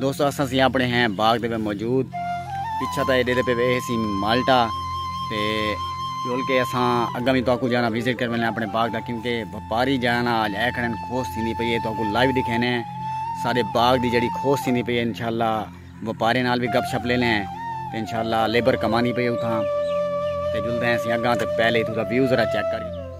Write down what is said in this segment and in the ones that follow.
دوستو اساں سی اپنے ہیں باغ دے پہ موجود پچھا تا ایڈے دے پہ اے سی مالٹا تے جول کے اساں اگا بھی تو کو جانا وزٹ کر میں اپنے باغ دا کیونکہ وپاری جانا آج اے کھڑن کھوس تھی نہیں پئی ہے تو کو لائیو دکھینے ہیں سارے باغ دی جڑی کھوس تھی نہیں پئی ہے انشاءاللہ وپاری نال بھی گپ شپ لینے ہیں تے انشاءاللہ لیبر کمانی پئی ہے اتھاں تے جلدے ہیں سی اگا تے پہلے تو دا ویو ذرا چیک کر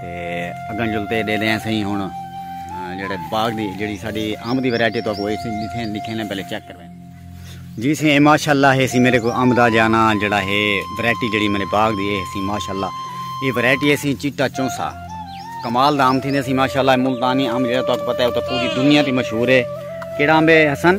تے اگن جل تے ڈیدے ہیں سہی ہن جڑے باغ دی جڑی ساڈی امب دی ویرائٹی تو کوئی سی لکھے لکھے نے پہلے چیک کرویں جی سی ماشاءاللہ ہے سی میرے کو امب دا جانا جڑا ہے ویرائٹی جڑی میرے باغ دی ہے سی ماشاءاللہ یہ ویرائٹی ہے سی چٹا چونسا کمال دا امب تھی نے سی ماشاءاللہ ملتانی امب جڑا تو پتہ ہے تو پوری دنیا دی مشہور ہے کیڑا امب ہے حسن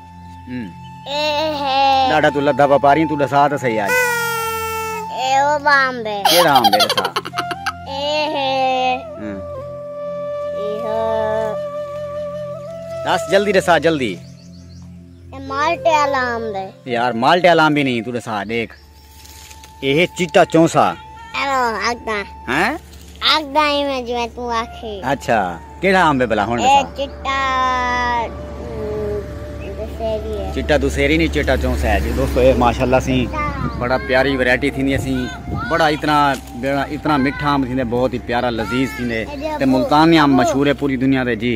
ڈاڈا تو لدا پا پاری تو دسا تے صحیح آج اے او بام بے کے رام بے دسا اے ہے ہاں۔ اے ہو دس جلدی دسا جلدی اے مالٹے الام بے یار مالٹے الام بھی نہیں تو دسا دیکھ ایہ چٹا چوں سا۔ اینو آکھداں۔ ہیں؟ آکھداں اینویں جیویں توں آکھیں۔ اچھا کیڑھا امب ہے بھلا ہن ڈسا۔ ایہ چٹا دسہری ہے۔ چٹا دسہری نی چٹا چوں سا ہے جی دوستو ایہ ماشاءاللہ سی بڑا پیاری ورائٹی تھیندی اسی بڑا اتنا اتنا مٹھا امب تھیندے بہت ہی پیارا لذیذ تھیندے تے ملتان دے امب مشہور ہے پوری دنیا دے جی۔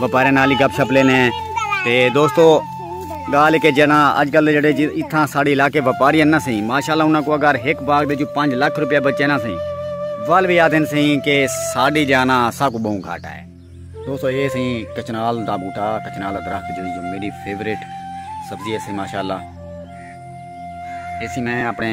وپارے نال ہی گپ شپ لینے ہیں تے دوستو گال کے جنا اج کل جڑے جی اتھاں ساڑی علاقے وپاری نہ سہی ماشاءاللہ انہاں کو اگر ایک باغ دے جو 5 لاکھ روپیہ بچے نہ سہی ول بھی آدھن سہی کہ ساڑی جانا سا کو بہوں گھاٹا ہے دوستو اے سہی کچنال دا بوٹا کچنال دا درخت جڑی جو میری فیورٹ سبزی ہے سہی ماشاءاللہ اسی میں اپنے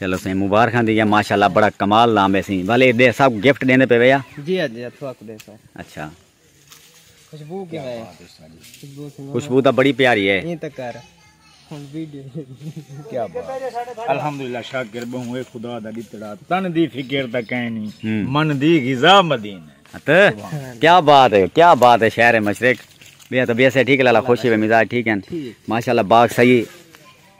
چلو سائیں مبارکاں دیاں ماشاءاللہ بڑا کمال نام ہے سائیں والے دے سب گفٹ دیندے پے ویا جی ہاں جی اتھوا کو دے سو اچھا خوشبو کیا ہے خوشبو دا بڑی پیاری ہے یہ تک کر کیا بات الحمدللہ شاکر بہوں اے خدا دا ڈتڑا تن دی فکر دا کہنی من دی غذا مدینہ تے کیا بات ہے کیا بات ہے شہر مشرق بیا تو بیا سے ٹھیک لالا خوشی و مزاج ٹھیک ہیں ماشاءاللہ باغ صحیح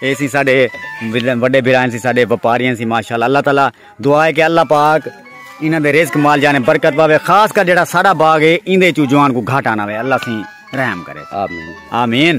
اے سی ساڈے وڈے بھرائیں سی ساڈے وپاریاں سی ماشاءاللہ اللہ تعالی دعا ہے کہ اللہ پاک انہاں دے رزق مال جانے برکت پاوے خاص کر جڑا ساڈا باغ ہے ایندے چوں جوان کو گھاٹا نہ ہوے اللہ سی رحم کرے آمین آمین